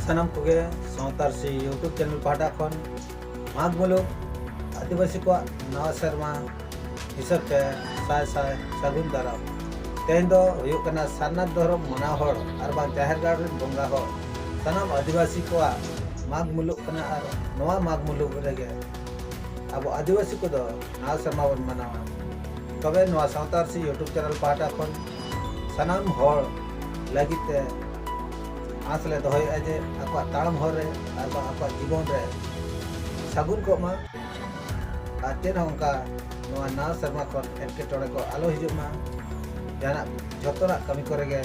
ᱥᱟᱱᱟᱢ ᱠᱚᱜᱮ ᱥᱟᱶᱛᱟᱨ ᱥᱮ ᱭᱩᱴᱩᱵᱽ ᱪᱮᱱᱮᱞ ᱯᱟᱦᱴᱟ ᱠᱷᱚᱱ ᱢᱟᱜᱽ ᱢᱩᱞᱩᱠ ᱟᱹᱫᱤᱵᱟᱹᱥᱤ ᱠᱚᱣᱟᱜ ᱱᱟᱣᱟ ᱥᱮᱨᱢᱟ ᱦᱤᱥᱟᱹᱵ ᱛᱮ ᱥᱟᱭ ᱥᱟᱭ ᱥᱟᱹᱜᱩᱱ ᱫᱟᱨᱟᱢ ᱛᱮᱦᱮᱧ ᱫᱚ ᱦᱩᱭᱩᱜ ᱠᱟᱱᱟ ᱥᱟᱨᱱᱟᱛᱷ ᱫᱷᱚᱨᱚᱢ ᱢᱟᱱᱟᱣ ᱦᱚᱲ ᱟᱨ ᱵᱟᱝ ᱡᱟᱦᱮᱨ ᱜᱟᱲ ᱨᱮᱱ ᱵᱚᱸᱜᱟ ᱦᱚᱲ ᱥᱟᱱᱟᱢ ᱟᱹᱫᱤᱵᱟᱹᱥᱤ ᱠᱚᱣᱟᱜ ᱢᱟᱜᱽ ᱢᱩᱞᱩᱜ ᱠᱟᱱᱟ ᱟᱨ ᱱᱚᱣᱟ ᱢᱟᱜᱽ ᱢᱩᱞᱩᱜ ᱨᱮᱜᱮ ᱟᱵᱚ ᱟᱹᱫᱤᱵᱟᱹᱥᱤ ᱠᱚᱫᱚ ᱱᱟᱣᱟ ᱥᱮᱨᱢᱟ ᱵᱚᱱ ᱢᱟᱱᱟᱣᱟ ᱛᱚᱵᱮ ᱱᱚᱣᱟ ᱥᱟᱶᱛᱟᱨ ᱥᱮ ᱭᱩᱴᱩᱵᱽ ᱪᱮᱱᱮᱞ ᱯᱟᱦᱴᱟ ᱠᱷᱚᱱ ᱥᱟᱱᱟᱢ ᱦᱚᱲ ᱞᱟᱹᱜᱤᱫ ᱛᱮ ᱟᱥ ᱞᱮ ᱫᱚᱦᱚᱭᱮᱫᱼᱟ ᱡᱮ ᱟᱠᱚᱣᱟᱜ ᱛᱟᱲᱟᱢ ᱦᱚᱨ ᱨᱮ ᱟᱨ ᱵᱟᱝ ᱟᱠᱚᱣᱟᱜ ᱡᱤᱵᱚᱱ ᱨᱮ ᱥᱟᱹᱜᱩᱱ ᱠᱚᱜ ᱢᱟ ᱟᱨ ᱪᱮᱫ ᱦᱚᱸ ᱚᱱᱠᱟ ᱱᱚᱣᱟ ᱱᱟᱣᱟ ᱥᱮᱨᱢᱟ ᱠᱷᱚᱱ ᱮᱴᱠᱮᱴᱚᱬᱮ ᱠᱚ ᱟᱞᱚ ᱦᱤᱡᱩᱜ ᱢᱟ ᱡᱟᱦᱟᱱᱟᱜ ᱡᱚᱛᱚᱱᱟᱜ ᱠᱟᱹᱢᱤ ᱠᱚᱨᱮ ᱜᱮ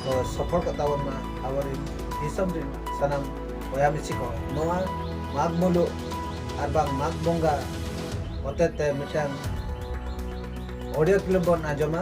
ᱠᱚ ᱥᱚᱯᱷᱚᱞ ᱠᱚᱜ ᱛᱟᱵᱚᱱ ᱢᱟ ᱟᱵᱚᱨᱮᱱ ᱫᱤᱥᱚᱢ ᱨᱮᱱ ᱥᱟᱱᱟᱢ ᱵᱚᱭᱦᱟ ᱢᱤᱥᱤ ᱠᱚ ᱱᱚᱣᱟ ᱢᱟᱜᱽ ᱢᱩᱞᱩᱜ ᱟᱨ ᱵᱟᱝ ᱢᱟᱜᱽ ᱵᱚᱸᱜᱟ ᱦᱚᱛᱮᱛᱮ ᱢᱤᱫᱴᱟᱝ ᱚᱰᱤᱭᱳ ᱠᱞᱤᱯ ᱵᱚᱱ ᱟᱸᱡᱚᱢᱟ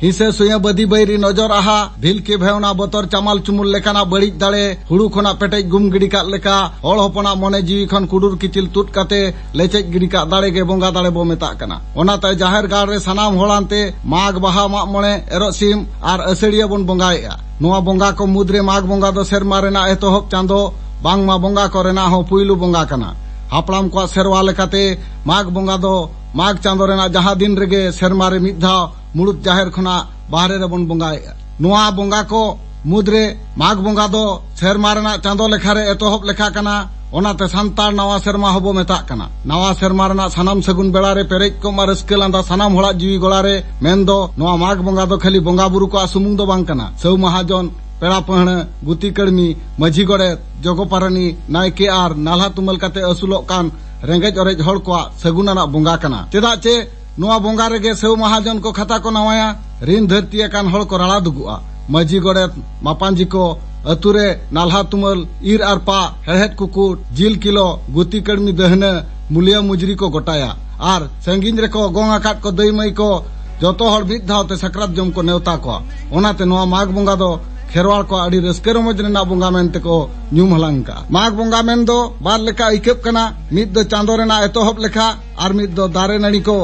ᱦᱤᱥᱟᱹ ᱥᱩᱭᱟᱹ ᱵᱟᱹᱫᱤ ᱵᱟᱹᱭᱨᱤ ᱱᱚᱡᱚᱨ ᱟᱦᱟ ᱵᱷᱤᱞᱠᱤ ᱵᱷᱮᱣᱱᱟ ᱵᱚᱛᱚᱨ ᱪᱟᱢᱟᱞ ᱪᱩᱢᱩᱞ ᱞᱮᱠᱟᱱᱟᱜ ᱵᱟᱹᱲᱤᱡ ᱫᱟᱲᱮ ᱦᱩᱲᱩ ᱠᱷᱚᱱᱟᱜ ᱯᱮᱴᱮᱡ ᱜᱩᱢ ᱜᱤᱰᱤ ᱠᱟᱜ ᱞᱮᱠᱟ ᱦᱚᱲ ᱦᱚᱯᱚᱱᱟᱜ ᱢᱚᱱᱮ ᱡᱤᱣᱤ ᱠᱷᱚᱱ ᱠᱩᱰᱩᱨ ᱠᱤᱪᱤᱞ ᱛᱩᱫ ᱠᱟᱛᱮ ᱞᱮᱪᱮᱡ ᱜᱤᱰᱤ ᱠᱟᱜ ᱫᱟᱲᱮ ᱜᱮ ᱵᱚᱸᱜᱟ ᱫᱟᱲᱮ ᱵᱚ ᱢᱮᱛᱟᱜ ᱠᱟᱱᱟ ᱚᱱᱟᱛᱮ ᱡᱟᱦᱮᱨ ᱜᱟᱲ ᱨᱮ ᱥᱟᱱᱟᱢ ᱦᱚᱲ ᱟᱱᱛᱮ ᱢᱟᱜᱽ ᱵᱟᱦᱟ ᱢᱟᱜ ᱢᱚᱬᱮ ᱮᱨᱚᱜ ᱥᱤᱢ ᱟᱨ ᱟᱹᱥᱟᱹᱲᱤᱭᱟᱹ ᱵᱚᱱ ᱵᱚᱸᱜᱟᱭᱮᱜᱼᱟ ᱱᱚᱣᱟ ᱵᱚᱸᱜᱟ ᱠᱚ ᱢᱩᱫᱽ ᱨᱮ ᱢᱟᱜᱽ ᱵᱚᱸᱜᱟ ᱫᱚ ᱥᱮᱨᱢᱟ ᱨᱮᱱᱟᱜ ᱮᱛᱚᱦᱚᱵ ᱪᱟᱸᱫᱚ ᱵᱟᱝᱢᱟ ᱵᱚᱸᱜᱟ ᱠᱚ ᱨᱮᱱᱟᱜ ᱦᱚᱸ ᱯᱩᱭᱞᱩ ᱵᱚᱸᱜᱟ ᱠᱟᱱᱟ ᱦᱟᱯᱲᱟᱢ ᱠᱚᱣᱟᱜ ᱥᱮᱨᱣᱟ ᱞᱮᱠᱟᱛᱮ ᱢᱟᱜᱽ ᱵᱚᱸᱜᱟ ᱫᱚ ᱢᱟᱜᱽ ᱪᱟᱸᱫᱚ ᱨᱮᱱᱟᱜ ᱡᱟᱦᱟᱸ ᱫᱤᱱ ᱨᱮᱜᱮ ᱥᱮᱨᱢᱟ ᱨᱮ ᱢᱤᱫ ᱫᱷᱟᱣ ᱢᱩᱬᱩᱛ ᱡᱟᱦᱮᱨ ᱠᱷᱚᱱᱟᱜ ᱵᱟᱦᱨᱮ ᱨᱮᱵᱚᱱ ᱵᱚᱸᱜᱟᱭᱮᱫᱼᱟ ᱱᱚᱣᱟ ᱵᱚᱸᱜᱟ ᱠᱚ ᱢᱩᱫᱽᱨᱮ ᱢᱟᱜᱽ ᱵᱚᱸᱜᱟ ᱫᱚ ᱥᱮᱨᱢᱟ ᱨᱮᱱᱟᱜ ᱪᱟᱸᱫᱚ ᱞᱮᱠᱷᱟ ᱨᱮ ᱮᱛᱚᱦᱚᱵ ᱞᱮᱠᱷᱟ ᱠᱟᱱᱟ ᱚᱱᱟᱛᱮ ᱥᱟᱱᱛᱟᱲ ᱱᱟᱣᱟ ᱥᱮᱨᱢᱟ ᱦᱚᱸᱵᱚ ᱢᱮᱛᱟᱜ ᱠᱟᱱᱟ ᱱᱟᱣᱟ ᱥᱮᱨᱢᱟ ᱨᱮᱱᱟᱜ ᱥᱟᱱᱟᱢ ᱥᱟᱹᱜᱩᱱ ᱵᱮᱲᱟ ᱨᱮ ᱯᱮᱨᱮᱡ ᱠᱚᱜ ᱢᱟ ᱨᱟᱹᱥᱠᱟᱹ ᱞᱟᱸᱫᱟ ᱥᱟᱱᱟᱢ ᱦᱚᱲᱟᱜ ᱡᱤᱣᱤ ᱜᱚᱲᱟ ᱨᱮ ᱢᱮᱱ ᱫᱚ ᱱᱚᱣᱟ ᱢᱟᱜᱽ ᱵᱚᱸᱜᱟ ᱫᱚ ᱠᱷᱟᱹᱞᱤ ᱵᱚᱸᱜᱟ ᱵᱩᱨᱩ ᱠᱚᱣᱟᱜ ᱥᱩᱢᱩᱝ ᱫᱚ ᱵᱟᱝ ᱠᱟᱱᱟ ᱥᱟᱹᱣ ᱢᱟᱦᱟᱡᱚᱱ ᱯᱮᱲᱟ ᱯᱟᱹᱦᱬᱟᱹ ᱜᱩᱛᱤ ᱠᱟᱹᱲᱢᱤ ᱢᱟᱹᱡᱷᱤ ᱜᱚᱰᱮᱛ ᱡᱚᱜᱚ ᱯᱟᱨᱟᱱᱤ ᱱᱟᱭᱠᱮ ᱟᱨ ᱱᱟᱞᱦᱟ ᱛᱩᱢᱟᱹᱞ ᱠᱟᱛᱮ ᱟᱹᱥᱩᱞᱚᱜ ᱠᱟᱱ ᱨᱮᱸᱜᱮᱡ ᱚᱨᱮᱡ ᱦᱚᱲ ᱠᱚᱣᱟᱜ ᱥᱟᱹᱜᱩᱱ ᱟᱱᱟᱜ ᱵᱚᱸᱜᱟ ᱠᱟᱱᱟ ᱪᱮᱫᱟᱜ ᱪᱮ ᱱᱚᱣᱟ ᱵᱚᱸᱜᱟ ᱨᱮᱜᱮ ᱥᱮᱣ ᱢᱟᱦᱟᱡᱚᱱ ᱠᱚ ᱠᱷᱟᱛᱟ ᱠᱚ ᱱᱟᱣᱟᱭᱟ ᱨᱤᱱ ᱫᱷᱟᱹᱨᱛᱤ ᱟᱠᱟᱱ ᱦᱚᱲ ᱠᱚ ᱨᱟᱲᱟ ᱫᱩᱜᱩᱜᱼᱟ ᱢᱟᱹᱡᱷᱤ ᱜᱚᱰᱮᱛ ᱢᱟᱯᱟᱸᱡᱷᱤ ᱠᱚ ᱟᱹᱛᱩ ᱨᱮ ᱱᱟᱞᱦᱟ ᱛᱩᱢᱟᱹᱞ ᱤᱨ ᱟᱨ ᱯᱟᱜ ᱦᱮᱲᱦᱮᱫ ᱠᱩᱠᱩᱴ ᱡᱤᱞ ᱠᱤᱞᱚ ᱜᱩᱛᱤ ᱠᱟᱹᱲᱢᱤ ᱫᱟᱹᱦᱱᱟᱹ ᱢᱩᱞᱤᱭᱟᱹ ᱢᱩᱡᱽᱨᱤ ᱠᱚ ᱜᱚᱴᱟᱭᱟ ᱟᱨ ᱥᱟᱺᱜᱤᱧ ᱨᱮᱠᱚ ᱜᱚᱝ ᱟᱠᱟᱫ ᱠᱚ ᱫᱟᱹᱭ ᱢᱟᱹᱭ ᱠᱚ ᱡᱚᱛᱚ ᱦᱚᱲ ᱢᱤᱫ ᱫᱷᱟᱣ ᱛᱮ ᱥᱟᱠᱨᱟᱛ ᱡᱚᱢ ᱠᱚ ᱱᱮᱣᱛᱟ ᱠᱚᱣᱟ ᱚᱱᱟᱛᱮ ᱱᱚᱣᱟ ᱢᱟᱜᱽ ᱵᱚᱸᱜᱟ ᱫᱚ ᱠᱷᱮᱨᱣᱟᱲ ᱠᱚ ᱟᱹᱰᱤ ᱨᱟᱹᱥᱠᱟᱹ ᱨᱚᱢᱚᱡᱽ ᱨᱮᱱᱟᱜ ᱵᱚᱸᱜᱟ ᱢᱮᱱ ᱛᱮᱠᱚ ᱧᱩᱢ ᱦᱟᱞᱟᱝ ᱠᱟᱜᱼᱟ ᱢᱟᱜᱽ ᱵᱚᱸᱜᱟ ᱢᱮᱱ ᱫᱚ ᱵᱟᱨ ᱞᱮᱠᱟ ᱟᱹᱭᱠᱟᱹᱜ ᱠᱟᱱᱟ ᱢᱤᱫ ᱫᱚ ᱪᱟᱸᱫᱚ ᱨᱮᱱᱟᱜ ᱮᱛᱚᱦᱚᱵ ᱞᱮᱠᱷᱟ ᱟᱨ ᱢᱤᱫ ᱫᱚ ᱫᱟᱨᱮ ᱱᱟᱹᱲᱤ ᱠᱚ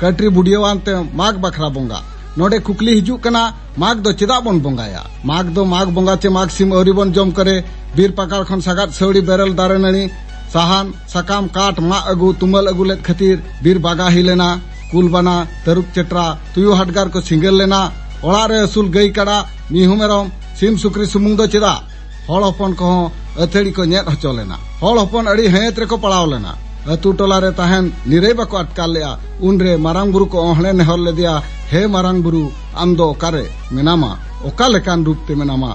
ᱠᱟᱹᱴᱨᱤ ᱵᱩᱰᱤᱭᱟᱣᱟᱱ ᱛᱮ ᱢᱟᱜᱽ ᱵᱟᱠᱷᱨᱟ ᱵᱚᱸᱜᱟ ᱱᱚᱰᱮ ᱠᱩᱠᱞᱤ ᱦᱤᱡᱩᱜ ᱠᱟᱱᱟ ᱢᱟᱜᱽ ᱫᱚ ᱪᱮᱫᱟᱜ ᱵᱚᱱ ᱵᱚᱸᱜᱟᱭᱟ ᱢᱟᱜᱽ ᱫᱚ ᱢᱟᱜᱽ ᱵᱚᱸᱜᱟ ᱪᱮ ᱢᱟᱜᱽ ᱥᱤᱢ ᱟᱹᱣᱨᱤ ᱵᱚᱱ ᱡᱚᱢ ᱠᱚᱨᱮ ᱵᱤᱨ ᱯᱟᱠᱟᱲ ᱠᱷᱚᱱ ᱥᱟᱜᱟᱫ ᱥᱟᱹᱣᱲᱤ ᱵᱮᱨᱮᱞ ᱫᱟᱨᱮ ᱱᱟᱹᱲᱤ ᱥᱟᱦᱟᱱ ᱥᱟᱠᱟᱢ ᱠᱟᱴ ᱢᱟᱜ ᱟᱹᱜᱩ ᱛᱩᱢᱟᱹᱞ ᱟᱹᱜᱩ ᱞᱮᱫ ᱠᱷᱟᱹᱛᱤᱨ ᱵᱤᱨ ᱵᱟᱜᱟ ᱦᱩᱭ ᱞᱮᱱᱟ ᱠᱩᱞᱵᱟᱱᱟ ᱛᱟᱹᱨᱩᱵ ᱪᱮᱴᱨᱟ ᱛᱩᱭᱩ ᱦᱟᱰᱜᱟᱨ ᱠᱚ ᱥᱤᱸᱜᱟᱹᱨ ᱞᱮᱱᱟ ᱚᱲᱟᱜ ᱨᱮ ᱟᱹᱥᱩᱞ ᱜᱟᱹᱭ ᱠᱟᱰᱟ ᱢᱤᱦᱩ ᱢᱮᱨᱚᱢ ᱥᱤᱢ ᱥᱩᱠᱨᱤ ᱥᱩᱢᱩᱝ ᱫᱚ ᱪᱮᱫᱟᱜ ᱦᱚᱲ ᱦᱚᱯᱚᱱ ᱠᱚᱦᱚᱸ ᱟᱹᱛᱷᱟᱹᱲᱤ ᱠᱚ ᱧᱮᱫ ᱦᱚᱪᱚ ᱞᱮᱱᱟ ᱦᱚᱲ ᱦᱚᱯᱚᱱ ᱟᱹᱰᱤ ᱦᱟᱹᱭᱟᱹᱛ ᱨᱮᱠᱚ ᱯᱟᱲᱟᱣ ᱞᱮᱱᱟ ᱟᱹᱛᱩ ᱴᱚᱞᱟ ᱨᱮ ᱛᱟᱦᱮᱱ ᱱᱤᱨᱟᱹᱭ ᱵᱟᱠᱚ ᱟᱴᱠᱟᱨ ᱞᱮᱫᱼᱟ ᱩᱱᱨᱮ ᱢᱟᱨᱟᱝ ᱵᱩᱨᱩ ᱠᱚ ᱚᱦᱬᱮ ᱱᱮᱦᱚᱨ ᱞᱮᱫᱮᱭᱟ ᱦᱮ ᱢᱟᱨᱟᱝ ᱵᱩᱨᱩ ᱟᱢ ᱫᱚ ᱚᱠᱟᱨᱮ ᱢᱮᱱᱟᱢᱟ ᱚᱠᱟ ᱞᱮᱠᱟᱱ ᱨᱩᱯ ᱛᱮ ᱢᱮᱱᱟᱢᱟ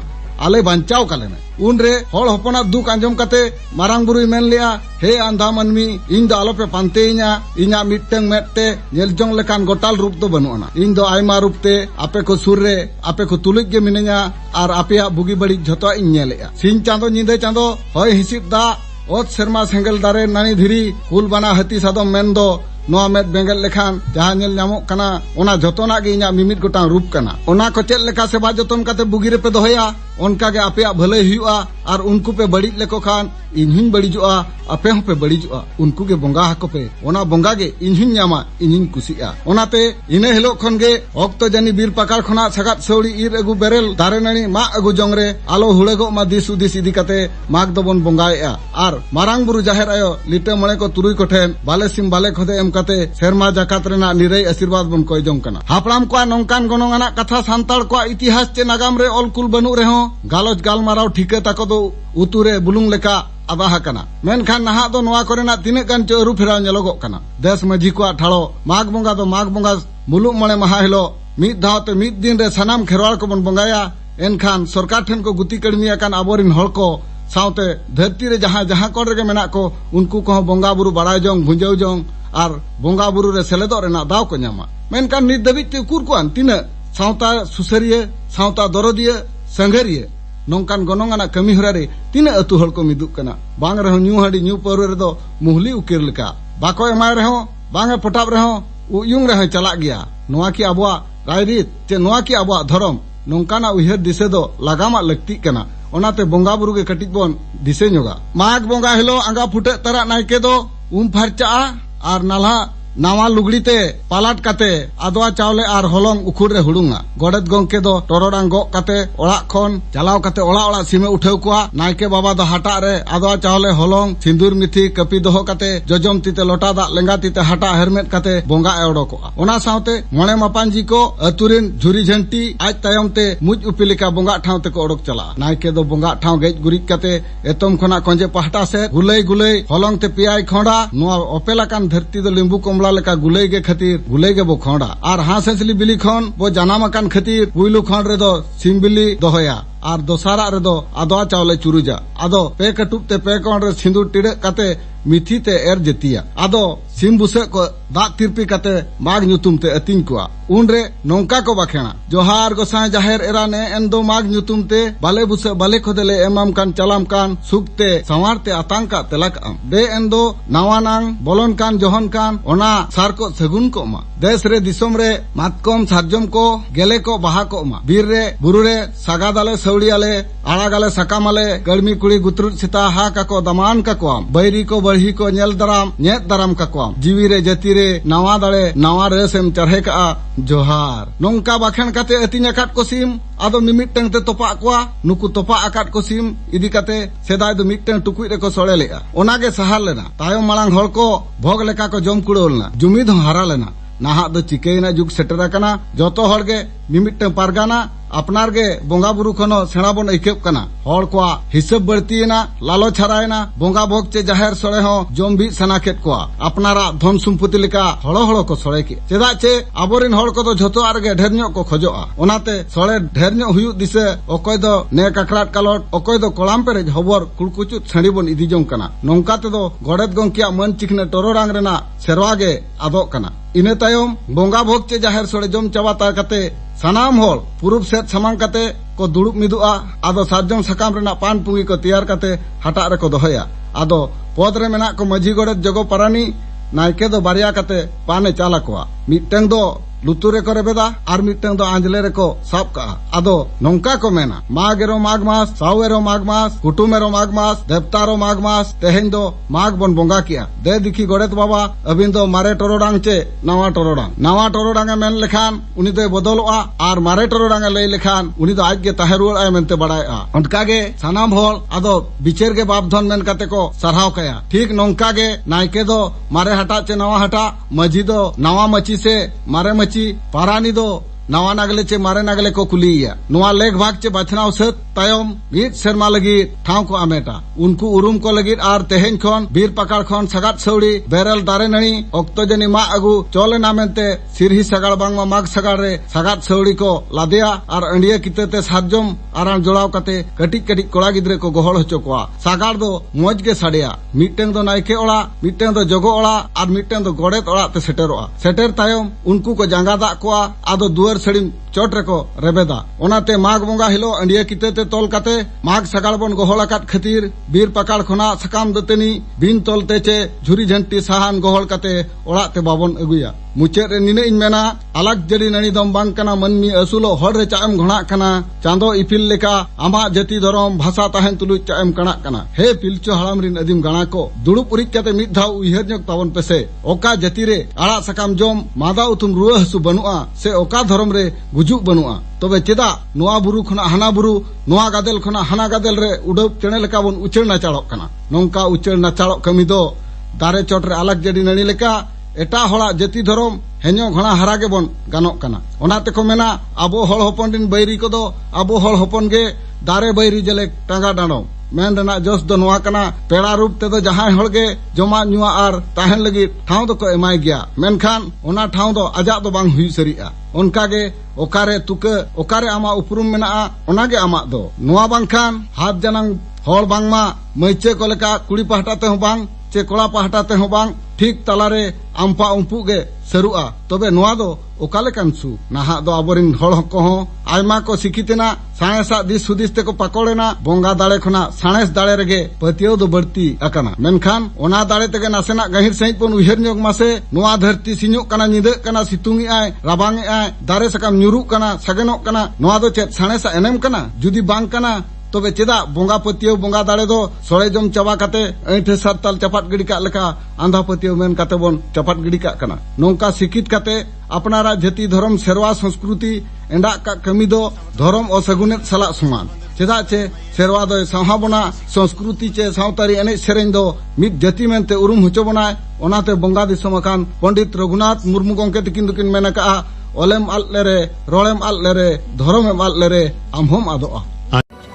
ᱟᱞᱮ ᱵᱟᱧᱪᱟᱣ ᱠᱟᱞᱮ ᱢᱮ ᱩᱱᱨᱮ ᱦᱚᱲ ᱦᱚᱯᱚᱱᱟᱜ ᱫᱩᱠ ᱟᱸᱡᱚᱢ ᱠᱟᱛᱮ ᱢᱟᱨᱟᱝ ᱵᱩᱨᱩᱭ ᱢᱮᱱ ᱞᱮᱫᱼᱟ ᱦᱮ ᱟᱸᱫᱷᱟ ᱢᱟᱹᱱᱢᱤ ᱤᱧ ᱫᱚ ᱟᱞᱚᱯᱮ ᱯᱟᱱᱛᱮᱭᱤᱧᱟ ᱤᱧᱟᱜ ᱢᱤᱫᱴᱟᱝ ᱢᱮᱫ ᱛᱮ ᱧᱮᱞ ᱡᱚᱝ ᱞᱮᱠᱟᱱ ᱜᱚᱴᱟᱞ ᱨᱩᱯ ᱫᱚ ᱵᱟᱹᱱᱩᱜ ᱟᱱᱟ ᱤᱧ ᱫᱚ ᱟᱭᱢᱟ ᱨᱩᱯ ᱛᱮ ᱟᱯᱮ ᱠᱚ ᱥᱩᱨ ᱨᱮ ᱟᱯᱮ ᱠᱚ ᱛᱩᱞᱩᱡ ᱜᱮ ᱢᱤᱱᱟᱹᱧᱟ ᱟᱨ ᱟᱯᱮᱭᱟᱜ ᱵᱩᱜᱤ ᱵᱟᱹᱲᱤᱡ ᱡᱷᱚᱛᱚᱣᱟᱜ ᱤᱧ ᱧᱮᱞᱮᱜᱼᱟ ᱥᱤᱧ ᱪᱟᱸᱫᱚ ᱧᱤᱫᱟᱹ ᱪᱟᱸᱫᱚ ᱦᱚᱭ ᱦᱤᱸᱥᱤᱫ ᱫᱟᱜ ᱚᱛ ᱥᱮᱨᱢᱟ ᱥᱮᱸᱜᱮᱞ ᱫᱟᱨᱮ ᱱᱟᱹᱲᱤ ᱫᱷᱤᱨᱤ ᱠᱩᱞ ᱵᱟᱱᱟ ᱦᱟᱹᱛᱤ ᱥᱟᱫᱚᱢ ᱢᱮᱱ ᱫᱚ ᱱᱚᱣᱟ ᱢᱮᱫ ᱵᱮᱸᱜᱮᱫ ᱞᱮᱠᱷᱟᱱ ᱡᱟᱦᱟᱸ ᱧᱮᱞ ᱧᱟᱢᱚᱜ ᱠᱟᱱᱟ ᱚᱱᱟ ᱡᱷᱚᱛᱚᱱᱟᱜ ᱜᱮ ᱤᱧᱟᱜ ᱢᱤᱢᱤᱫ ᱜᱚᱴᱟᱝ ᱨᱩᱯ ᱠᱟᱱᱟ ᱚᱱᱟ ᱠᱚ ᱪᱮᱫ ᱞᱮᱠᱟ ᱥᱮᱵᱟ ᱡᱚᱛᱚᱱ ᱠᱟᱛᱮ ᱵᱩᱜᱤ ᱨᱮᱯᱮ ᱫᱚᱦᱚᱭᱟ ᱚᱱᱠᱟ ᱜᱮ ᱟᱯᱮᱭᱟᱜ ᱵᱷᱟᱹᱞᱟᱹᱭ ᱦᱩᱭᱩᱜᱼᱟ ᱟᱨ ᱩᱱᱠᱩ ᱯᱮ ᱵᱟᱹᱲᱤᱡ ᱞᱮᱠᱚ ᱠᱷᱟᱱ ᱤᱧ ᱦᱚᱧ ᱵᱟᱹᱲᱤᱡᱚᱜᱼᱟ ᱟᱯᱮ ᱦᱚᱸᱯᱮ ᱵᱟᱹᱲᱤᱡᱚᱜᱼᱟ ᱩᱱᱠᱩ ᱜᱮ ᱵᱚᱸᱜᱟ ᱟᱠᱚ ᱯᱮ ᱚᱱᱟ ᱵᱚᱸᱜᱟ ᱜᱮ ᱤᱧ ᱦᱚᱧ ᱧᱟᱢᱟ ᱤᱧᱤᱧ ᱠᱩᱥᱤᱜᱼᱟ ᱚᱱᱟᱛᱮ ᱤᱱᱟᱹ ᱦᱤᱞᱳᱜ ᱠᱷᱚᱱ ᱜᱮ ᱚᱠᱛᱚ ᱡᱟᱹᱱᱤ ᱵᱤᱨ ᱯᱟᱠᱟᱲ ᱠᱷᱚᱱᱟᱜ ᱥᱟᱜᱟᱫ ᱥᱟᱹᱣᱲᱤ ᱤᱨ ᱟᱹᱜᱩ ᱵᱮᱨᱮᱞ ᱫᱟᱨᱮ ᱱᱟᱹᱲᱤ ᱢᱟᱜ ᱟᱹᱜᱩ ᱡᱚᱝ ᱨᱮ ᱟᱞᱚ ᱦᱩᱲᱟᱹᱜᱚᱜ ᱢᱟ ᱫᱤᱥ ᱦᱩᱫᱤᱥ ᱤᱫᱤ ᱠᱟᱛᱮ ᱢᱟᱜᱽ ᱫᱚᱵᱚᱱ ᱵᱚᱸᱜᱟᱭᱮᱜᱼᱟ ᱟᱨ ᱢᱟᱨᱟᱝ ᱵᱩᱨᱩ ᱡᱟᱦᱮᱨ ᱟᱭᱳ ᱞᱤᱴᱟᱹ ᱢᱚᱬᱮ ᱠᱚ ᱛᱩᱨᱩᱭ ᱠᱚ ᱴᱷᱮᱱ ᱵᱟᱞᱮ ᱥᱤᱢ ᱵᱟᱞᱮ ᱠᱷᱚᱫᱮ ᱮᱢ ᱠᱟᱛᱮ ᱥᱮᱨᱢᱟ ᱡᱟᱠᱟᱛ ᱨᱮᱱᱟᱜ ᱱᱤᱨᱟᱹᱭ ᱟᱥᱤᱨᱵᱟᱫᱽ ᱵᱚᱱ ᱠᱚᱭ ᱡᱚᱝ ᱠᱟᱱᱟ ᱦᱟᱯᱲᱟᱢ ᱠᱚᱣᱟᱜ ᱱᱚᱝᱠᱟᱱ ᱜᱚᱱᱚᱝ ᱟᱱᱟᱜ ᱠᱟᱛᱷᱟ ᱥᱟᱱᱛᱟᱲ ᱠᱚᱣᱟᱜ ᱤᱛᱤᱦᱟᱥ ᱪᱮ ᱱᱟᱜᱟᱢ ᱨᱮ ᱚᱞ ᱠᱩᱞ ᱵᱟᱹᱱᱩᱜ ᱨᱮᱦᱚᱸ ᱜᱟᱞᱚᱪ ᱜᱟᱞᱢᱟᱨᱟᱣ ᱴᱷᱤᱠᱟᱹ ᱛᱟᱠᱚ ᱫᱚ ᱩᱛᱩ ᱨᱮ ᱵᱩᱞᱩᱝ ᱞᱮᱠᱟ ᱟᱫᱟ ᱦᱟᱠᱟᱱᱟ᱾ ᱢᱮᱱᱠᱷᱟᱱ ᱱᱟᱦᱟᱜ ᱫᱚ ᱱᱚᱣᱟ ᱠᱚᱨᱮᱱᱟᱜ ᱛᱤᱱᱟᱹᱜ ᱜᱟᱱ ᱪᱚ ᱟᱹᱨᱩ ᱯᱷᱮᱨᱟᱣ ᱧᱮᱞᱚᱜᱚᱜ ᱠᱟᱱᱟ᱾ ᱫᱮᱥ ᱢᱟᱹᱡᱷᱤ ᱠᱚᱣᱟᱜ ᱴᱷᱟᱲᱚ ᱢᱟᱜᱽ ᱵᱚᱸᱜᱟ ᱫᱚ ᱢᱟᱜᱽ ᱵᱚᱸᱜᱟ ᱢᱩᱞᱩᱜ ᱢᱚᱬᱮ ᱢᱟᱦᱟᱸ ᱦᱤᱞᱚᱜ ᱢᱤᱫ ᱫᱷᱟᱣ ᱛᱮ ᱢᱤᱫ ᱫᱤᱱ ᱨᱮ ᱥᱟᱱᱟᱢ ᱠᱷᱮᱨᱣᱟᱲ ᱠᱚᱵᱚᱱ ᱵᱚᱸᱜᱟᱭᱟ᱾ ᱮᱱᱠᱷᱟᱱ ᱥᱚᱨᱠᱟᱨ ᱴᱷᱮᱱ ᱠᱚ ᱜᱩᱛᱤ ᱠᱟᱹᱲᱢᱤ ᱟᱠᱟᱱ ᱟᱵᱚ ᱨᱤᱱ ᱦᱚᱲ ᱠᱚ ᱥᱟᱶᱛᱮ ᱫᱷᱟᱹᱨᱛᱤ ᱨᱮ ᱡᱟᱦᱟᱸᱭ ᱡᱟᱦᱟᱸ ᱠᱚᱬ ᱨᱮᱜᱮ ᱢᱮᱱᱟᱜ ᱠᱚ ᱩᱱᱠᱩ ᱠᱚᱦᱚᱸ ᱵᱚᱸᱜᱟ ᱵᱩᱨᱩ ᱵᱟᱲᱟᱭ ᱡᱚᱝ, ᱵᱷᱩᱸᱡᱟᱹᱣ ᱡᱚᱝ ᱟᱨ ᱵᱚᱸᱜᱟ ᱵᱩᱨᱩ ᱨᱮ ᱥᱮᱞᱮᱫᱚᱜ ᱨᱮᱱᱟᱜ ᱫᱟᱣ ᱠᱚ ᱧᱟᱢᱟ᱾ ᱢᱮᱱᱠᱷᱟᱱ ᱱᱤᱛ ᱫᱷᱟᱹᱵᱤᱡ ᱛᱮ ᱩᱠᱩᱨ ᱠᱚ ᱟᱱ ᱛᱤᱱᱟᱹᱜ ᱥᱟᱶᱛᱟ ᱥᱩᱥᱟᱹᱨᱤᱭᱟᱹ, ᱥᱟᱶᱛᱟ ᱫᱚᱨᱚᱫᱤᱭᱟᱹ, ᱥᱟᱸᱜᱷᱟᱹᱨᱤᱭᱟᱹ᱾ ᱱᱚᱝᱠᱟᱱ ᱜᱚᱱᱚᱝ ᱟᱱᱟᱜ ᱠᱟᱹᱢᱤ ᱦᱚᱨᱟ ᱨᱮ ᱛᱤᱱᱟᱹᱜ ᱟᱹᱛᱩ ᱦᱚᱲ ᱠᱚ ᱢᱤᱫᱩᱜ ᱠᱟᱱᱟ ᱵᱟᱝ ᱨᱮᱦᱚᱸ ᱧᱩ ᱦᱟᱺᱰᱤ ᱧᱩ ᱯᱟᱹᱣᱨᱟᱹ ᱨᱮᱫᱚ ᱢᱩᱦᱞᱤ ᱩᱠᱤᱨ ᱞᱮᱠᱟ ᱵᱟᱠᱚ ᱮᱢᱟᱭ ᱨᱮᱦᱚᱸ ᱵᱟᱝ ᱮ ᱯᱚᱴᱟᱵ ᱨᱮᱦᱚᱸ ᱩᱭᱩᱝ ᱨᱮᱦᱚᱸᱭ ᱪᱟᱞᱟᱜ ᱜᱮᱭᱟ ᱱᱚᱣᱟ ᱠᱤ ᱟᱵᱚᱣᱟᱜ ᱨᱟᱭᱨᱤᱛ ᱪᱮ ᱱᱚᱣᱟ ᱠᱤ ᱟᱵᱚᱣᱟᱜ ᱫᱷᱚᱨᱚᱢ ᱱᱚᱝᱠᱟᱱᱟᱜ ᱩᱭᱦᱟᱹᱨ ᱫᱤᱥᱟᱹ ᱫᱚ ᱞᱟᱜᱟᱢᱟᱜ ᱞᱟᱹᱠᱛᱤᱜ ᱠᱟᱱᱟ ᱚᱱᱟᱛᱮ ᱵᱚᱸᱜᱟ ᱵᱩᱨᱩ ᱜᱮ ᱠᱟᱹᱴᱤᱡ ᱵᱚᱱ ᱫᱤᱥᱟᱹ ᱧᱚᱜᱟ ᱢᱟᱜᱽ ᱵᱚᱸᱜᱟ ᱦᱤᱞᱚᱜ ᱟᱸᱜᱟ ᱯᱷᱩᱴᱟᱹᱜ ᱛᱟᱨᱟᱜ ᱱᱟᱭᱠᱮ ᱫᱚ ᱩᱢ ᱯᱷᱟᱨᱪᱟᱜᱼᱟ ᱟᱨ ᱱᱟᱞᱦᱟ ᱱᱟᱣᱟ ᱞᱩᱜᱽᱲᱤ ᱛᱮ ᱯᱟᱞᱟᱴ ᱠᱟᱛᱮ ᱟᱫᱽᱣᱟ ᱪᱟᱣᱞᱮ ᱟᱨ ᱦᱚᱞᱚᱝ ᱩᱠᱷᱩᱲ ᱨᱮ ᱦᱩᱲᱩᱝᱟ᱾ ᱜᱚᱰᱮᱛ ᱜᱚᱝᱠᱮ ᱫᱚ ᱴᱚᱨᱚᱰᱟᱝ ᱜᱚᱜ ᱠᱟᱛᱮ ᱚᱲᱟᱜ ᱠᱷᱚᱱ ᱪᱟᱞᱟᱣ ᱠᱟᱛᱮ ᱚᱲᱟᱜ ᱚᱲᱟᱜ ᱥᱤᱢᱮ ᱩᱴᱷᱟᱹᱣ ᱠᱚᱣᱟ᱾ ᱱᱟᱭᱠᱮ ᱵᱟᱵᱟ ᱫᱚ ᱦᱟᱴᱟᱜ ᱨᱮ ᱟᱫᱽᱣᱟ ᱪᱟᱣᱞᱮ, ᱦᱚᱞᱚᱝ, ᱥᱤᱸᱫᱩᱨ, ᱢᱤᱛᱷᱤ, ᱠᱟᱹᱯᱤ ᱫᱚᱦᱚ ᱠᱟᱛᱮ ᱡᱚᱡᱚᱢ ᱛᱤ ᱛᱮ ᱞᱚᱴᱟ ᱫᱟᱜ, ᱞᱮᱸᱜᱟ ᱛᱤ ᱛᱮ ᱦᱟᱴᱟᱜ ᱦᱮᱨᱢᱮᱫ ᱠᱟᱛᱮ ᱵᱚᱸᱜᱟᱜ ᱮ ᱚᱰᱚᱠᱚᱜᱼᱟ᱾ ᱚᱱᱟ ᱥᱟᱶᱛᱮ ᱢᱚᱬᱮ ᱢᱟᱯᱟᱧᱡᱤ ᱠᱚ ᱟᱹᱛᱩ ᱨᱤᱱ ᱡᱷᱩᱨᱤ ᱡᱷᱟᱹᱱᱴᱤ ᱟᱡ ᱛᱟᱭᱚᱢ ᱛᱮ ᱢᱩᱡ ᱩᱯᱤ ᱞᱮᱠᱟ ᱵᱚᱸᱜᱟᱜ ᱴᱷᱟᱶ ᱛᱮᱠᱚ ᱚᱰᱚᱠ ᱪᱟᱞᱟᱜᱼᱟ᱾ ᱱᱟᱭᱠᱮ ᱫᱚ ᱵᱚᱸᱜᱟᱜ ᱴᱷᱟᱶ ᱜᱮᱡ ᱜᱩᱨᱤᱡ ᱠᱟᱛᱮ ᱮᱛᱚᱢ ᱠᱷᱚᱱᱟᱜ ᱠᱚᱸᱡᱮ ᱯᱟᱦᱴᱟ ᱥᱮᱫ ᱜᱩᱞᱟᱹᱭ ᱜᱩᱞᱟᱹᱭ ᱦᱚᱞᱚᱝ ᱛᱮ ᱯᱮᱭᱟᱭ ᱠᱷᱚᱸᱰᱟ ᱱᱚᱣᱟ ᱚᱯᱮᱞ ᱟᱠᱟᱱ ᱫᱷᱟᱹᱨᱛᱤ ᱫᱚ ᱞᱤᱢᱵᱩ ᱠᱚᱢᱞᱟ ᱞᱮᱠᱟ ᱜᱩᱞᱟᱹᱭ ᱜᱮ ᱠᱷᱟᱹᱛᱤᱨ ᱜᱩᱞᱟᱹᱭ ᱜᱮ ᱵᱚ ᱠᱷᱚᱸᱰᱟ ᱟᱨ ᱦᱟᱸᱥ ᱦᱟᱹᱥᱞᱤ ᱵᱤᱞᱤ ᱠᱷᱚᱱ ᱵᱚ ᱡᱟᱱᱟᱢ ᱟᱠᱟᱱ ᱠᱷᱟᱹᱛᱤᱨ ᱯᱩᱭᱞᱩ ᱠᱷᱚᱸᱰ ᱨᱮᱫᱚ ᱥᱤᱢ ᱵᱤᱞᱤ ᱫᱚᱦᱚᱭᱟ ᱟᱨ ᱫᱚᱥᱟᱨᱟᱜ ᱨᱮᱫᱚ ᱟᱫᱣᱟ ᱪᱟᱣᱞᱮ ᱪᱩᱨᱩᱡᱟ ᱟᱫᱚ ᱯᱮ ᱠᱟᱹᱴᱩᱵ ᱛᱮ ᱯᱮ ᱠᱚᱬ ᱨᱮ ᱥᱤᱸᱫᱩᱨ ᱴᱤᱲᱟᱹᱜ ᱠᱟᱛᱮ ᱢᱤᱛᱷᱤ ᱛᱮ ᱮᱨ ᱡᱟᱹᱛᱤᱭᱟ ᱟᱫᱚ ᱥᱤᱢ ᱵᱩᱥᱟᱹᱜ ᱠᱚ ᱫᱟᱜ ᱛᱤᱨᱯᱤ ᱠᱟᱛᱮ ᱢᱟᱜᱽ ᱧᱩᱛᱩᱢ ᱛᱮ ᱟᱹᱛᱤᱧ ᱠᱚᱣᱟ ᱩᱱᱨᱮ ᱱᱚᱝᱠᱟ ᱠᱚ ᱵᱟᱠᱷᱮᱬᱟ ᱡᱚᱦᱟᱨ ᱜᱚᱥᱟᱸᱭ ᱡᱟᱦᱮᱨ ᱮᱨᱟ ᱱᱮ ᱮᱱ ᱫᱚ ᱢᱟᱜᱽ ᱧᱩᱛᱩᱢ ᱛᱮ ᱵᱟᱞᱮ ᱵᱩᱥᱟᱹᱜ ᱵᱟᱞᱮ ᱠᱷᱚᱫᱮ ᱞᱮ ᱮᱢᱟᱢ ᱠᱟᱱ ᱪᱟᱞᱟᱢ ᱠᱟᱱ ᱥᱩᱠ ᱛᱮ ᱥᱟᱶᱟᱨ ᱛᱮ ᱟᱛᱟᱝ ᱠᱟᱜ ᱛᱮᱞᱟ ᱠᱟᱜ ᱟᱢ ᱫᱮ ᱮᱱ ᱫᱚ ᱱᱟᱣᱟ ᱱᱟᱝ ᱵᱚᱞᱚᱱ ᱠᱟᱱ ᱡᱚᱦᱚᱱ ᱠᱟᱱ ᱚᱱᱟ ᱥᱟᱨ ᱠᱚ ᱥᱟᱹᱜᱩᱱ ᱠᱚᱜ ᱢᱟ ᱫᱮᱥ ᱨᱮ ᱫᱤᱥᱚᱢ ᱨᱮ ᱢᱟᱛᱠᱚᱢ ᱥᱟᱨᱡᱚᱢ ᱠᱚ ᱜᱮᱞᱮ ᱠᱚᱜ ᱵᱟᱦᱟ ᱠᱚᱜ ᱢᱟ ᱵᱤᱨ ᱨᱮ ᱵᱩᱨᱩ ᱨᱮ ᱥᱟᱜᱟᱫᱟᱞᱮ ᱥᱟᱹᱣᱲᱤᱭᱟᱞᱮ ᱟᱲᱟᱜ ᱟᱞᱮ ᱥᱟᱠᱟᱢ ᱟᱞᱮ ᱠᱟᱹᱲᱢᱤ ᱠᱩᱲᱤ ᱜᱩᱛᱨᱩᱡ ᱥᱮᱛᱟ ᱦᱟ ᱠᱟᱠᱚ ᱫᱟᱢᱟᱱ ᱠᱟᱠᱚᱣᱟᱢ ᱵᱟᱹᱭᱨᱤ ᱠᱚ ᱵᱟᱹᱲᱦᱤ ᱠᱚ ᱧᱮᱞ ᱫᱟᱨᱟᱢ ᱧᱮᱫ ᱫᱟᱨᱟᱢ ᱠᱟᱠᱚᱣᱟᱢ ᱡᱤᱣᱤ ᱨᱮ ᱡᱟᱹᱛᱤ ᱨᱮ ᱱᱟᱣᱟ ᱫᱟᱲᱮ ᱱᱟᱣᱟ ᱨᱟᱹᱥ ᱮᱢ ᱪᱟᱨᱦᱮ ᱠᱟᱜᱼᱟ ᱡᱚᱦᱟᱨ ᱱᱚᱝᱠᱟ ᱵᱟᱠᱷᱮᱬ ᱠᱟᱛᱮ ᱟᱹᱛᱤᱧ ᱟᱠᱟᱫ ᱠᱚ ᱥᱤᱢ ᱟᱫᱚ ᱢᱤᱢᱤᱫᱴᱟᱝ ᱛᱮ ᱛᱚᱯᱟᱜ ᱠᱚᱣᱟ ᱱᱩᱠᱩ ᱛᱚᱯᱟᱜ ᱟᱠᱟᱫ ᱠᱚ ᱥᱤᱢ ᱤᱫᱤ ᱠᱟᱛᱮ ᱥᱮᱫᱟᱭ ᱫᱚ ᱢᱤᱫᱴᱟᱝ ᱴᱩᱠᱩᱡ ᱨᱮᱠᱚ ᱥᱚᱲᱮ ᱞᱮᱫᱼᱟ ᱚᱱᱟ ᱜᱮ ᱥᱟᱦᱟᱨ ᱞᱮᱱᱟ ᱛᱟᱭᱚᱢ ᱢᱟᱲᱟᱝ ᱦᱚᱲ ᱠᱚ ᱵᱷᱚᱜᱽ ᱞᱮᱠᱟ ᱠᱚ ᱡᱚᱢ ᱠᱩᱲᱟᱹᱣ ᱞᱮᱱᱟ ᱡᱩᱢᱤᱫ ᱦᱚᱸ ᱦᱟᱨᱟ ᱞᱮᱱᱟ ᱱᱟᱦᱟᱜ ᱫᱚ ᱪᱤᱠᱟᱹᱭᱮᱱᱟ ᱡᱩᱜᱽ ᱥᱮᱴᱮᱨ ᱟᱠᱟᱱᱟ ᱡᱚᱛᱚ ᱦᱚᱲ ᱜᱮ ᱢᱤᱢᱤᱫᱴᱟᱝ ᱯᱟᱨᱜᱟᱱᱟ ᱟᱯᱱᱟᱨ ᱜᱮ ᱵᱚᱸᱜᱟ ᱵᱩᱨᱩ ᱠᱷᱚᱱ ᱦᱚᱸ ᱥᱮᱬᱟ ᱵᱚᱱ ᱟᱹᱭᱠᱟᱹᱜ ᱠᱟᱱᱟ ᱦᱚᱲ ᱠᱚᱣᱟᱜ ᱦᱤᱥᱟᱹᱵ ᱵᱟᱹᱲᱛᱤᱭᱮᱱᱟ ᱞᱟᱞᱚᱪ ᱦᱟᱨᱟᱭᱮᱱᱟ ᱵᱚᱸᱜᱟ ᱵᱷᱚᱜᱽ ᱪᱮ ᱡᱟᱦᱮᱨ ᱥᱚᱲᱮ ᱦᱚᱸ ᱡᱚᱢ ᱵᱷᱤᱡ ᱥᱟᱱᱟ ᱠᱮᱫ ᱠᱚᱣᱟ ᱟᱯᱱᱟᱨᱟᱜ ᱫᱷᱚᱱ ᱥᱩᱢᱯᱩᱛᱤ ᱞᱮᱠᱟ ᱦᱚᱲᱚ ᱦᱚᱲᱚ ᱠᱚ ᱥᱚᱲᱮ ᱠᱮᱫ ᱪᱮᱫᱟᱜ ᱪᱮ ᱟᱵᱚ ᱨᱤᱱ ᱦᱚᱲ ᱠᱚᱫᱚ ᱡᱷᱚᱛᱚᱣᱟᱜ ᱨᱮᱜᱮ ᱰᱷᱮᱨ ᱧᱚᱜ ᱠᱚ ᱠᱷᱚᱡᱚᱜᱼᱟ ᱚᱱᱟᱛᱮ ᱥᱚᱲᱮ ᱰᱷᱮᱨ ᱧᱚᱜ ᱦᱩᱭᱩᱜ ᱫᱤᱥᱟᱹ ᱚᱠᱚᱭ ᱫᱚ ᱱᱮ ᱠᱟᱠᱲᱟᱴ ᱠᱟᱞᱚᱴ ᱚᱠᱚᱭ ᱫᱚ ᱠᱚᱲᱟᱢ ᱯᱮᱨᱮᱡ ᱦᱚᱵᱚᱨ ᱠᱩᱲᱠᱩᱪᱩᱫ ᱥᱟᱺᱰᱤ ᱵᱚᱱ ᱤᱫᱤ ᱡᱚᱝ ᱠᱟᱱᱟ ᱱᱚᱝᱠᱟ ᱛᱮᱫᱚ ᱜᱚᱰᱮᱛ ᱜᱚᱝᱠᱮᱭᱟᱜ ᱢᱟᱹᱱ ᱪᱤᱠᱷᱱᱟᱹ ᱴᱚᱨᱚᱰᱟᱝ ᱨᱮᱱᱟᱜ ᱥᱮᱨᱣᱟ ᱜᱮ ᱟᱫᱚᱜ ᱠᱟᱱᱟ ᱤᱱᱟᱹ ᱛᱟᱭᱚᱢ ᱵᱚᱸᱜᱟ ᱵᱷᱳᱜ ᱪᱮ ᱡᱟᱦᱮᱨ ᱥᱚᱲᱮ ᱡᱚᱢ ᱪᱟᱵᱟ ᱛᱟᱨ ᱠᱟᱛᱮ ᱥᱟᱱᱟᱢ ᱦᱚᱲ ᱯᱩᱨᱩᱵ ᱥᱮᱫ ᱥᱟᱢᱟᱝ ᱠᱟᱛᱮ ᱠᱚ ᱫᱩᱲᱩᱵ ᱢᱤᱫᱚᱜᱼᱟ ᱟᱫᱚ ᱥᱟᱨᱡᱚᱢ ᱥᱟᱠᱟᱢ ᱨᱮᱱᱟᱜ ᱯᱟᱱ ᱯᱩᱸᱜᱤ ᱠᱚ ᱛᱮᱭᱟᱨ ᱠᱟᱛᱮ ᱦᱟᱴᱟᱜ ᱨᱮᱠᱚ ᱫᱚᱦᱚᱭᱟ ᱟᱫᱚ ᱯᱚᱫᱽ ᱨᱮ ᱢᱮᱱᱟᱜ ᱠᱚ ᱢᱟᱹᱡᱷᱤ ᱜᱚᱰᱮᱛ ᱡᱚᱜᱚ ᱯᱟᱨᱟᱱᱤ ᱱᱟᱭᱠᱮ ᱫᱚ ᱵᱟᱨᱭᱟ ᱠᱟᱛᱮ ᱯᱟᱱ ᱮ ᱪᱟᱞ ᱟᱠᱚᱣᱟ ᱢᱤᱫᱴᱟᱝ ᱫᱚ ᱞᱩᱛᱩᱨ ᱨᱮᱠᱚ ᱨᱮᱵᱮᱫᱟ ᱟᱨ ᱢᱤᱫᱴᱟᱝ ᱫᱚ ᱟᱸᱡᱽᱞᱮ ᱨᱮᱠᱚ ᱥᱟᱵ ᱠᱟᱜᱼᱟ ᱟᱫᱚ ᱱᱚᱝᱠᱟ ᱠᱚ ᱢᱮᱱᱟ ᱢᱟᱜᱽ ᱮᱨᱚ ᱢᱟᱜᱽ ᱢᱟᱥ ᱥᱟᱣ ᱮᱨᱚ ᱢᱟᱜᱽ ᱢᱟᱥ ᱠᱩᱴᱩᱢ ᱮᱨᱚ ᱢᱟᱜᱽ ᱢᱟᱥ ᱫᱮᱵᱽᱛᱟ ᱮᱨᱚ ᱢᱟᱜᱽ ᱢᱟᱥ ᱛᱮᱦᱮᱧ ᱫᱚ ᱢᱟᱜᱽ ᱵᱚᱱ ᱵᱚᱸᱜᱟ ᱠᱮᱜᱼᱟ ᱫᱮ ᱫᱤᱠᱷᱤ ᱜᱚᱰᱮᱛ ᱵᱟᱵᱟ ᱟᱹᱵᱤᱱ ᱫᱚ ᱢᱟᱨᱮ ᱴᱚᱨᱚᱰᱟᱝ ᱪᱮ ᱱᱟᱣᱟ ᱴᱚᱨᱚᱰᱟᱝ ᱱᱟᱣᱟ ᱴᱚᱨᱚᱰᱟᱝ ᱮ ᱢᱮᱱ ᱞᱮᱠᱷᱟᱱ ᱩᱱᱤ ᱫᱚᱭ ᱵᱚᱫᱚᱞᱚᱜᱼᱟ ᱟᱨ ᱢᱟᱨᱮ ᱴᱚᱨᱚᱰᱟᱝ ᱮ ᱞᱟᱹᱭ ᱞᱮᱠᱷᱟᱱ ᱩᱱᱤ ᱫᱚ ᱟᱡ ᱜᱮ ᱛᱟᱦᱮᱸ ᱨᱩᱣᱟᱹᱲᱚᱜᱼᱟᱭ ᱢᱮᱱᱛᱮ ᱵᱟᱲᱟᱭᱚᱜᱼᱟ ᱚᱱᱠᱟ ᱜᱮ ᱥᱟᱱᱟᱢ ᱦᱚᱲ ᱟᱫᱚ ᱵᱤᱪᱟᱹᱨ ᱜᱮ ᱵᱟᱯ ᱫᱷᱚᱱ ᱢᱮᱱ ᱠᱟᱛᱮ ᱠᱚ ᱥᱟᱨᱦᱟᱣ ᱠᱟᱭᱟ ᱴᱷᱤᱠ ᱱᱚᱝᱠᱟ ᱜᱮ ᱱᱟᱭᱠᱮ ᱫᱚ ᱢᱟᱨᱮ ᱦᱟᱴᱟᱜ ᱪᱮ ᱱᱟᱣᱟ ᱦᱟᱴᱟᱜ ᱢᱟᱹᱡᱷᱤ ᱫᱚ ᱱᱟᱣᱟ ᱢᱟᱹᱪᱤ ᱥᱮ ᱢᱟᱨᱮ ᱢᱟᱹᱪᱤ ᱯᱟᱨᱟᱱᱤ ᱫᱚ ᱱᱟᱣᱟ ᱱᱟᱜᱽᱞᱮ ᱪᱮ ᱢᱟᱨᱮ ᱱᱟᱜᱽᱞᱮ ᱠᱚ ᱠᱩᱞᱤᱭᱮᱭᱟ ᱱᱚᱣᱟ ᱞᱮᱠᱷ ᱵᱷᱟᱜᱽ ᱪᱮ ᱵᱟᱪᱷᱱᱟᱣ ᱥᱟᱹᱛ ᱛᱟᱭᱚᱢ ᱢᱤᱫ ᱥᱮᱨᱢᱟ ᱞᱟᱹᱜᱤᱫ ᱴᱷᱟᱶ ᱠᱚ ᱟᱢᱮᱴᱟ᱾ ᱩᱱᱠᱩ ᱩᱨᱩᱢ ᱠᱚ ᱞᱟᱹᱜᱤᱫ ᱟᱨ ᱛᱮᱦᱮᱧ ᱠᱷᱚᱱ ᱵᱤᱨ ᱯᱟᱠᱟᱲ ᱠᱷᱚᱱ ᱥᱟᱜᱟᱫ ᱥᱟᱹᱣᱲᱤ, ᱵᱮᱨᱮᱞ ᱫᱟᱨᱮ ᱱᱟᱹᱬᱤ, ᱚᱠᱛᱚ ᱡᱟᱹᱱᱤ ᱢᱟᱜ ᱟᱹᱜᱩ ᱪᱚᱞ ᱮᱱᱟ ᱢᱮᱱᱛᱮ ᱥᱤᱨᱦᱤ ᱥᱟᱜᱟᱲ ᱵᱟᱝᱢᱟ ᱢᱟᱜᱽ ᱥᱟᱜᱟᱲ ᱨᱮ ᱥᱟᱜᱟᱫ ᱥᱟᱹᱣᱲᱤ ᱠᱚ ᱞᱟᱫᱮᱭᱟ ᱟᱨ ᱟᱹᱬᱭᱟᱹ ᱠᱤᱛᱟᱹ ᱛᱮ ᱥᱟᱨᱡᱚᱢ ᱟᱨᱟᱬ ᱡᱚᱲᱟᱣ ᱠᱟᱛᱮ ᱠᱟᱹᱴᱤᱡ ᱠᱟᱹᱴᱤᱡ ᱠᱚᱲᱟ ᱜᱤᱫᱽᱨᱟᱹ ᱠᱚ ᱜᱚᱦᱚᱲ ᱦᱚᱪᱚ ᱠᱚᱣᱟ᱾ ᱥᱟᱜᱟᱲ ᱫᱚ ᱢᱚᱡᱽ ᱜᱮ ᱥᱟᱰᱮᱭᱟ᱾ ᱢᱤᱫᱴᱟᱹᱝ ᱫᱚ ᱱᱟᱭᱠᱮ ᱚᱲᱟᱜ, ᱢᱤᱫᱴᱟᱹᱝ ᱫᱚ ᱡᱚᱜᱚ ᱚᱲᱟᱜ ᱟᱨ ᱢᱤᱫᱴᱟᱹᱝ ᱫᱚ ᱜᱚᱰᱮᱛ ᱚᱲᱟᱜ ᱛᱮ ᱥᱮᱴᱮᱨᱚᱜᱼᱟ᱾ ᱥᱮᱴᱮᱨ ᱛᱟᱭᱚᱢ ᱩᱱᱠᱩ ᱠᱚ ᱡᱟᱸᱜᱟ ᱫᱟᱜ ᱠᱚᱣᱟ ᱟᱫᱚ ᱫᱩᱣᱟᱹᱨ ᱥᱟᱹᱲᱤᱢ ᱪᱚᱴ ᱨᱮᱠᱚ ᱨᱮᱵᱮᱫᱟ ᱚᱱᱟᱛᱮ ᱢᱟᱜᱽ ᱵᱚᱸᱜᱟ ᱦᱤᱞᱳᱜ ᱟᱹᱰᱤᱭᱟᱹ ᱠᱤᱛᱟᱹ ᱛᱮ ᱛᱚᱞ ᱠᱟᱛᱮ ᱢᱟᱜᱽ ᱥᱟᱜᱟᱲ ᱵᱚᱱ ᱜᱚᱦᱚᱲ ᱟᱠᱟᱫ ᱠᱷᱟᱹᱛᱤᱨ ᱵᱤᱨ ᱯᱟᱠᱟᱲ ᱠᱷᱚᱱᱟᱜ ᱥᱟᱠᱟᱢ ᱫᱟᱹᱛᱟᱹᱱᱤ ᱵᱤᱱ ᱛᱚᱞ ᱛᱮ ᱪᱮ ᱡᱷᱩᱨᱤ ᱡᱷᱟᱹᱱᱴᱤ ᱥᱟᱦᱟᱱ ᱜᱚᱦᱚᱲ ᱠᱟᱛᱮ ᱚᱲᱟᱜ ᱛᱮ ᱵᱟᱵᱚᱱ ᱟᱹᱜᱩᱭᱟ ᱢᱩᱪᱟᱹᱫ ᱨᱮ ᱱᱤᱱᱟᱹᱜ ᱤᱧ ᱢᱮᱱᱟ ᱟᱞᱟᱠ ᱡᱟᱹᱲᱤ ᱱᱟᱹᱲᱤ ᱫᱚᱢ ᱵᱟᱝ ᱠᱟᱱᱟ ᱢᱟᱹᱱᱢᱤ ᱟᱹᱥᱩᱞᱚᱜ ᱦᱚᱲ ᱨᱮ ᱪᱟᱜ ᱮᱢ ᱜᱷᱚᱬᱟᱜ ᱠᱟᱱᱟ ᱪᱟᱸᱫᱚ ᱤᱯᱤᱞ ᱞᱮᱠᱟ ᱟᱢᱟᱜ ᱡᱟᱹᱛᱤ ᱫᱷᱚᱨᱚᱢ ᱵᱷᱟᱥᱟ ᱛᱟᱦᱮᱱ ᱛᱩᱞᱩᱡ ᱪᱟᱜ ᱮᱢ ᱠᱟᱬᱟᱜ ᱠᱟᱱᱟ ᱦᱮ ᱯᱤᱞᱪᱩ ᱦᱟᱲᱟᱢ ᱨᱤᱱ ᱟᱹᱫᱤᱢ ᱜᱟᱬᱟ ᱠᱚ ᱫᱩᱲᱩᱵ ᱩᱨᱤᱡ ᱠᱟᱛᱮ ᱢᱤᱫ ᱫᱷᱟᱣ ᱩᱭᱦᱟᱹᱨ ᱧᱚᱜ ᱛᱟᱵᱚᱱ ᱯᱮᱥᱮ ᱚᱠᱟ ᱡᱟᱹᱛᱤ ᱨᱮ ᱟᱲᱟᱜ ᱥᱟᱠᱟᱢ ᱡᱚᱢ ᱢᱟᱫᱟ ᱩᱛᱩᱢ ᱨᱩᱣᱟᱹ ᱦᱟᱹᱥᱩ ᱵᱟᱹᱱᱩᱜᱼᱟ ᱥᱮ ᱚᱠᱟ ᱫᱷᱚᱨᱚᱢ ᱨᱮ ᱜᱩᱡᱩᱜ ᱵᱟᱹᱱᱩᱜᱼᱟ ᱛᱚᱵᱮ ᱪᱮᱫᱟᱜ ᱱᱚᱣᱟ ᱵᱩᱨᱩ ᱠᱷᱚᱱᱟᱜ ᱦᱟᱱᱟ ᱵᱩᱨᱩ ᱱᱚᱣᱟ ᱜᱟᱫᱮᱞ ᱠᱷᱚᱱᱟᱜ ᱦᱟᱱᱟ ᱜᱟᱫᱮᱞ ᱨᱮ ᱩᱰᱟᱹᱣ ᱪᱮᱬᱮ ᱞᱮᱠᱟ ᱵᱚᱱ ᱩᱪᱟᱹᱲ ᱱᱟᱪᱟᱲᱚᱜ ᱠᱟᱱᱟ ᱱᱚᱝᱠᱟ ᱩᱪᱟᱹᱲ ᱱᱟᱪᱟᱲᱚᱜ ᱠᱟᱹᱢᱤ ᱫᱚ ᱫᱟᱨᱮ ᱪᱚᱴ ᱨᱮ ᱟᱞᱟᱠ ᱡᱟᱹᱰᱤ ᱱᱟᱹᱲᱤ ᱞᱮᱠᱟ ᱮᱴᱟᱜ ᱦᱚᱲᱟᱜ ᱡᱟᱹᱛᱤ ᱫᱷᱚᱨᱚᱢ ᱦᱮᱧᱚ ᱜᱷᱚᱬᱟ ᱦᱟᱨᱟ ᱜᱮᱵᱚᱱ ᱜᱟᱱᱚᱜ ᱠᱟᱱᱟ ᱚᱱᱟ ᱛᱮᱠᱚ ᱢᱮᱱᱟ ᱟᱵᱚ ᱦᱚᱲ ᱦᱚᱯᱚᱱ ᱨᱤᱱ ᱵᱟᱹᱭᱨᱤ ᱠᱚᱫᱚ ᱟᱵᱚ ᱦᱚᱲ ᱦᱚᱯᱚᱱ ᱜᱮ ᱫᱟᱨᱮ ᱵᱟᱹᱭᱨᱤ ᱡᱮᱞᱮᱠ ᱴᱟᱸᱜᱟ ᱰᱟᱸᱰᱚᱢ ᱢᱮᱱ ᱨᱮᱱᱟᱜ ᱡᱚᱥ ᱫᱚ ᱱᱚᱣᱟ ᱠᱟᱱᱟ ᱯᱮᱲᱟ ᱨᱩᱯ ᱛᱮᱫᱚ ᱡᱟᱦᱟᱸᱭ ᱦᱚᱲ ᱜᱮ ᱡᱚᱢᱟᱜ ᱧᱩᱣᱟᱜ ᱟᱨ ᱛᱟᱦᱮᱱ ᱞᱟᱹᱜᱤᱫ ᱴᱷᱟᱶ ᱫᱚᱠᱚ ᱮᱢᱟᱭ ᱜᱮᱭᱟ ᱢᱮᱱᱠᱷᱟᱱ ᱚᱱᱟ ᱴᱷᱟᱶ ᱫᱚ ᱟᱡᱟᱜ ᱫᱚ ᱵᱟᱝ ᱦᱩᱭ ᱥᱟᱹᱨᱤᱜᱼᱟ ᱚᱱᱠᱟᱜᱮ ᱚᱠᱟᱨᱮ ᱛᱩᱠᱟᱹ ᱚᱠᱟᱨᱮ ᱟᱢᱟᱜ ᱩᱯᱨᱩᱢ ᱢᱮᱱᱟᱜᱼᱟ ᱚᱱᱟᱜᱮ ᱟᱢᱟᱜ ᱫᱚ ᱱᱚᱣᱟ ᱵᱟᱝᱠᱷᱟᱱ ᱦᱟᱛ ᱡᱟᱱᱟᱝ ᱦᱚᱲ ᱵᱟᱝᱢᱟ ᱢᱟᱹᱭᱪᱟᱹ ᱠᱚ ᱞᱮᱠᱟ ᱠᱩᱲᱤ ᱯᱟᱦᱴᱟ ᱛᱮᱦᱚᱸ ᱵᱟᱝ ᱪᱮ ᱠᱚᱲᱟ ᱯᱟᱦᱴᱟ ᱛᱮᱦᱚᱸ ᱵᱟᱝ ᱴᱷᱤᱠ ᱛᱟᱞᱟᱨᱮ ᱟᱢᱯᱟ ᱩᱢᱯᱩᱜ ᱜᱮ ᱥᱟᱹᱨᱩᱜᱼᱟ ᱛᱚᱵᱮ ᱱᱚᱣᱟ ᱫᱚ ᱚᱠᱟ ᱞᱮᱠᱟᱱ ᱥᱩ? ᱱᱟᱦᱟᱜ ᱫᱚ ᱟᱵᱚ ᱨᱤᱱ ᱦᱚᱲ ᱠᱚ ᱦᱚᱸ ᱟᱭᱢᱟ ᱠᱚ ᱥᱤᱠᱷᱤᱛ ᱮᱱᱟ, ᱥᱟᱬᱮᱥ ᱟᱜ ᱫᱤᱥ ᱦᱩᱫᱤᱥ ᱛᱮ ᱠᱚ ᱯᱟᱠᱚᱲ ᱮᱱᱟ, ᱵᱚᱸᱜᱟ ᱫᱟᱲᱮ ᱠᱷᱚᱱᱟᱜ ᱥᱟᱬᱮᱥ ᱫᱟᱲᱮ ᱨᱮ ᱜᱮ ᱯᱟᱹᱛᱭᱟᱹᱣ ᱫᱚ ᱵᱟᱹᱲᱛᱤ ᱟᱠᱟᱱᱟ᱾ ᱢᱮᱱᱠᱷᱟᱱ ᱚᱱᱟ ᱫᱟᱲᱮ ᱛᱮ ᱜᱮ ᱱᱟᱥᱮᱱᱟᱜ ᱜᱟᱹᱦᱤᱨ ᱥᱟᱺᱦᱤᱡ ᱵᱚᱱ ᱩᱭᱦᱟᱹᱨ ᱧᱚᱜᱽ ᱢᱟᱥᱮ, ᱱᱚᱶᱟ ᱫᱷᱟᱹᱨᱛᱤ ᱥᱤᱧᱚᱜ ᱠᱟᱱᱟ, ᱧᱤᱫᱟᱹᱜ ᱠᱟᱱᱟ, ᱥᱤᱛᱩᱝ ᱮᱫ ᱟᱭ, ᱨᱟᱵᱟᱝ ᱮᱫ ᱟᱭ, ᱫᱟᱨᱮ ᱥᱟᱠᱟᱢ ᱧᱩᱨᱩᱜ ᱠᱟᱱᱟ, ᱥᱟᱜᱮᱱᱚᱜ ᱠᱟᱱᱟ, ᱱᱚᱶᱟ ᱫᱚ ᱪᱮᱫ ᱥᱟᱬᱮᱥ ᱟᱜ ᱮᱱᱮᱢ ᱠᱟᱱᱟ? ᱡᱩᱫᱤ ᱵᱟᱝ ᱠᱟᱱᱟ ᱛᱚᱵᱮ ᱪᱮᱫᱟᱜ ᱵᱚᱸᱜᱟ ᱯᱟᱹᱛᱭᱟᱹᱣ ᱵᱚᱸᱜᱟ ᱫᱟᱲᱮ ᱫᱚ ᱥᱚᱲᱮ ᱡᱚᱢ ᱪᱟᱵᱟ ᱠᱟᱛᱮ ᱟᱺᱭᱴᱷᱟᱹ ᱥᱟᱨ ᱛᱟᱞ ᱪᱟᱯᱟᱫ ᱜᱤᱰᱤ ᱠᱟᱜ ᱞᱮᱠᱟ ᱟᱸᱫᱷᱟ ᱯᱟᱹᱛᱭᱟᱹᱣ ᱢᱮᱱ ᱠᱟᱛᱮ ᱵᱚᱱ ᱪᱟᱯᱟᱫ ᱜᱤᱰᱤ ᱠᱟᱜ ᱠᱟᱱᱟ ᱱᱚᱝᱠᱟ ᱥᱤᱠᱤᱛ ᱠᱟᱛᱮ ᱟᱯᱱᱟᱨᱟᱜ ᱡᱟᱹᱛᱤ ᱫᱷᱚᱨᱚᱢ ᱥᱮᱨᱣᱟ ᱥᱚᱸᱥᱠᱨᱩᱛᱤ ᱮᱸᱰᱟᱜ ᱠᱟᱜ ᱠᱟᱹᱢᱤ ᱫᱚ ᱫᱷᱚᱨᱚᱢ ᱚᱥᱟᱹᱜᱩᱱᱮᱫ ᱥᱟᱞᱟᱜ ᱥᱚᱢᱟᱱ ᱪᱮᱫᱟᱜ ᱪᱮ ᱥᱮᱨᱣᱟ ᱫᱚᱭ ᱥᱟᱶᱦᱟ ᱵᱚᱱᱟ ᱥᱚᱸᱥᱠᱨᱩᱛᱤ ᱪᱮ ᱥᱟᱶᱛᱟᱨᱤ ᱮᱱᱮᱡ ᱥᱮᱨᱮᱧ ᱫᱚ ᱢᱤᱫ ᱡᱟᱹᱛᱤ ᱢᱮᱱᱛᱮ ᱩᱨᱩᱢ ᱦᱚᱪᱚ ᱵᱚᱱᱟᱭ ᱚᱱᱟᱛᱮ ᱵᱚᱸᱜᱟ ᱫᱤᱥᱚᱢ ᱟᱠᱟᱱ ᱯᱚᱸᱰᱤᱛ ᱨᱚᱜᱷᱩᱱᱟᱛᱷ ᱢᱩᱨᱢᱩ ᱜᱚᱝᱠᱮ ᱛᱤᱠᱤᱱ ᱫᱚᱠᱤᱱ ᱢᱮᱱ ᱟᱠᱟᱜᱼᱟ ᱚᱞᱮᱢ ᱟᱫ ᱞᱮᱨᱮ ᱨᱚᱲᱮᱢ ᱟᱫ ᱞᱮᱨᱮ ᱫᱷᱚᱨᱚᱢᱮᱢ ᱟᱫ ᱞᱮᱨᱮ ᱟᱢ ᱦᱚᱸᱢ ᱟᱫᱚᱜᱼᱟ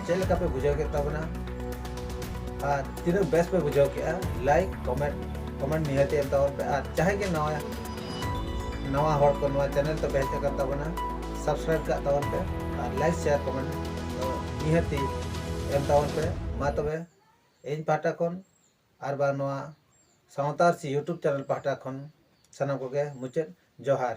ᱪᱮᱫ ᱞᱮᱠᱟ ᱯᱮ ᱵᱩᱡᱷᱟᱹᱣ ᱠᱮᱫ ᱛᱟᱵᱚᱱᱟ ᱟᱨ ᱛᱤᱱᱟᱹᱜ ᱵᱮᱥ ᱯᱮ ᱵᱩᱡᱷᱟᱹᱣ ᱠᱮᱫᱼᱟ ᱞᱟᱭᱤᱠ ᱠᱚᱢᱮᱱᱴ ᱠᱚᱢᱮᱱᱴ ᱱᱤᱦᱟᱹᱛ ᱮᱢ ᱛᱟᱵᱚᱱ ᱯᱮ ᱟᱨ ᱡᱟᱦᱟᱸᱭ ᱜᱮ ᱱᱟᱣᱟ ᱱᱟᱣᱟ ᱦᱚᱲ ᱠᱚ ᱱᱚᱣᱟ ᱪᱮᱱᱮᱞ ᱛᱮᱯᱮ ᱦᱮᱡ ᱟᱠᱟᱱ ᱛᱟᱵᱚᱱᱟ ᱥᱟᱵᱥᱠᱨᱟᱭᱤᱵ ᱠᱟᱜ ᱛᱟᱵᱚᱱ ᱯᱮ ᱟᱨ ᱞᱟᱭᱤᱠ ᱥᱮᱭᱟᱨ ᱠᱚᱢᱮᱱᱴ ᱱᱤᱦᱟᱹᱛ ᱮᱢ ᱛᱟᱵᱚᱱ ᱯᱮ ᱢᱟ ᱛᱚᱵᱮ ᱤᱧ ᱯᱟᱦᱴᱟ ᱠᱷᱚᱱ ᱟᱨ ᱵᱟᱝ ᱱᱚᱣᱟ ᱥᱟᱶᱛᱟ ᱟᱹᱨᱥᱤ ᱤᱭᱩᱴᱩᱵᱽ ᱪᱮᱱᱮᱞ ᱯᱟᱦᱴᱟ ᱠᱷᱚᱱ ᱥᱟᱱᱟᱢ ᱠᱚᱜᱮ ᱢᱩᱪᱟᱹᱫ ᱡᱚᱦᱟᱨ